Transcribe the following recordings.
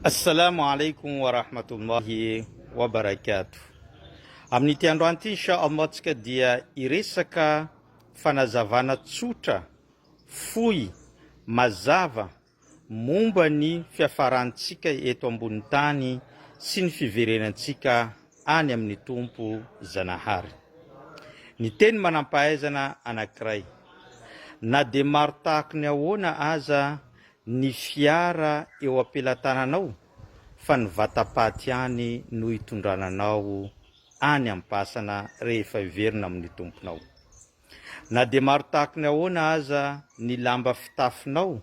Assalamu alaikum wa rahmatullahi wa barakatuh. Amin'ity androany ity insha Allah tsika dia hiresaka fanazavana tsotra, fohy, mazava momba ny fiafarantsika eto ambony tany sy ny fiverenantsika any amin'ny Tompo Zanahary. Ny teny manampahaizana anankiray. Na dia maro tahako ny ahoana aza ny fiara eo am-pelatananao fa ny vatapaty ihany no hitondrana anao any am-pasana rehefa hiverina amin'ny Tomponao. Na dia maro tahaka ny ahoana aza ny lamba fitafinao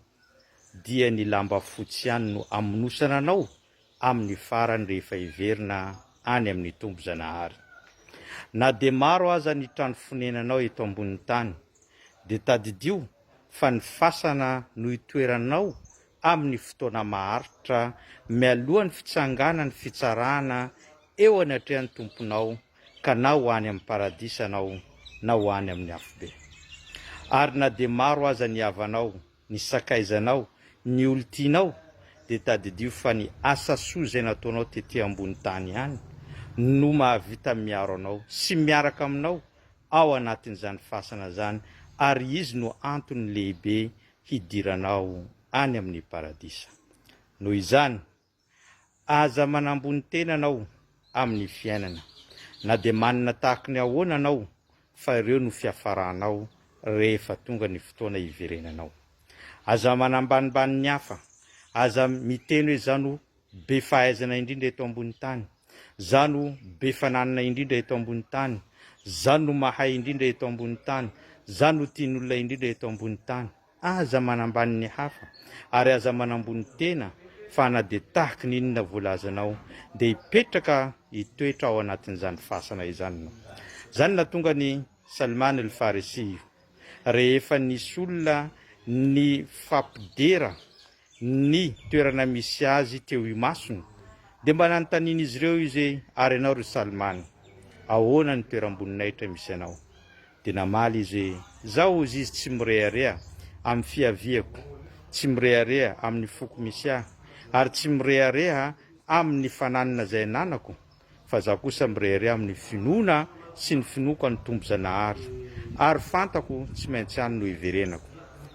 dia ny lamba fotsy ihany no hamonosana anao amin'ny farany rehefa hiverina any amin'ny Tompo Zanahary. Na dia maro aza ny trano fonenanao eto ambonin'ny tany, dia tadidio fa ny fasana no itoeranao amin'ny fotoana maharitra mialohan'ny fitsanganan'ny fitsarana eo anatrehan'ny Tomponao ka na ho any amin'ny Paradisa anao na ho any amin'ny Afobe. Ary na dia maro aza ny havanao, ny sakaizanao, ny olon-tianao, dia tadidio fa ny asa soa izay nataonao tety ambony tany ihany no mahavita miaro anao sy miaraka aminao ao anatin'izany fasana izany ary izy no antony lehibe hidiranao any amin'ny paradisa. Noho izany, Aza manambony tena anao amin'ny fiainana na dia manina tahaky ny ahoana anao fa ireo no fiafaranao rehefa tonga ny fotoana hiverenanao. Aza manambanimbany ny hafa, aza miteny hoe za no be fahaizana indrindra eto ambony tany, za no be fananana indrindra eto ambony tany, za no mahay indrindra eto ambony tany, za no tian'olona indrindra eto ambony tany. Aza manambany ny hafa, ary aza manambony tena, fa na dia tahaka ny inona volazanao, dia hipetraka hitoetra ao anatin'izany fasana izany ianao. Izany nahatonga an'i Salman al-Farisi io, rehefa nisy olona nifampidera ny toerana misy azy teo imasony, dia mba nanontanian'izy ireo izy hoe, Ary ianao ry Salman, ahoana ny toeram-boninahitra misy anao? Dia namaly izy hoe, Izaho hozy izy tsy mirehareha amin'ny fiaviako, tsy mirehareha amin'ny foko misy ahy, ary tsy mirehareha amin'ny fananana izay ananako, fa izaho kosa mirehareha amin'ny finoana sy ny finoako an'ny Tompo Zanahary, ary fantako tsy maintsy any no hiverenako.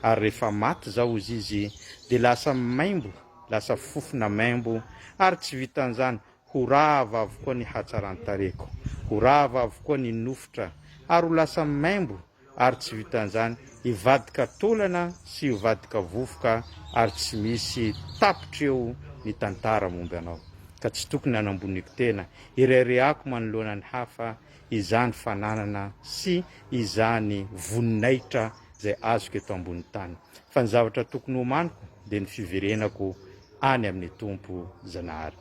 Ary rehefa maty izaho hozy izy, dia lasa maimbo, lasa fofona maimbo, ary tsy vitan'izany, Ho rava avokoa ny hatsaran-tarehiko, ho rava avokoa ny nofotra, ary ho lasa maimbo, ary tsy vitan'izany, hivadika taolana sy hivadika vovoka, ary tsy misy tapitra eo ny tantara momba anao, ka tsy tokony hanamboniako tena, hireharehako manoloana ny hafa izany fananana sy izany voninahitra izay azoko eto ambonin'ny tany, fa ny zavatra tokony homaniko dia ny fiverenako any amin'ny Tompo Zanahary.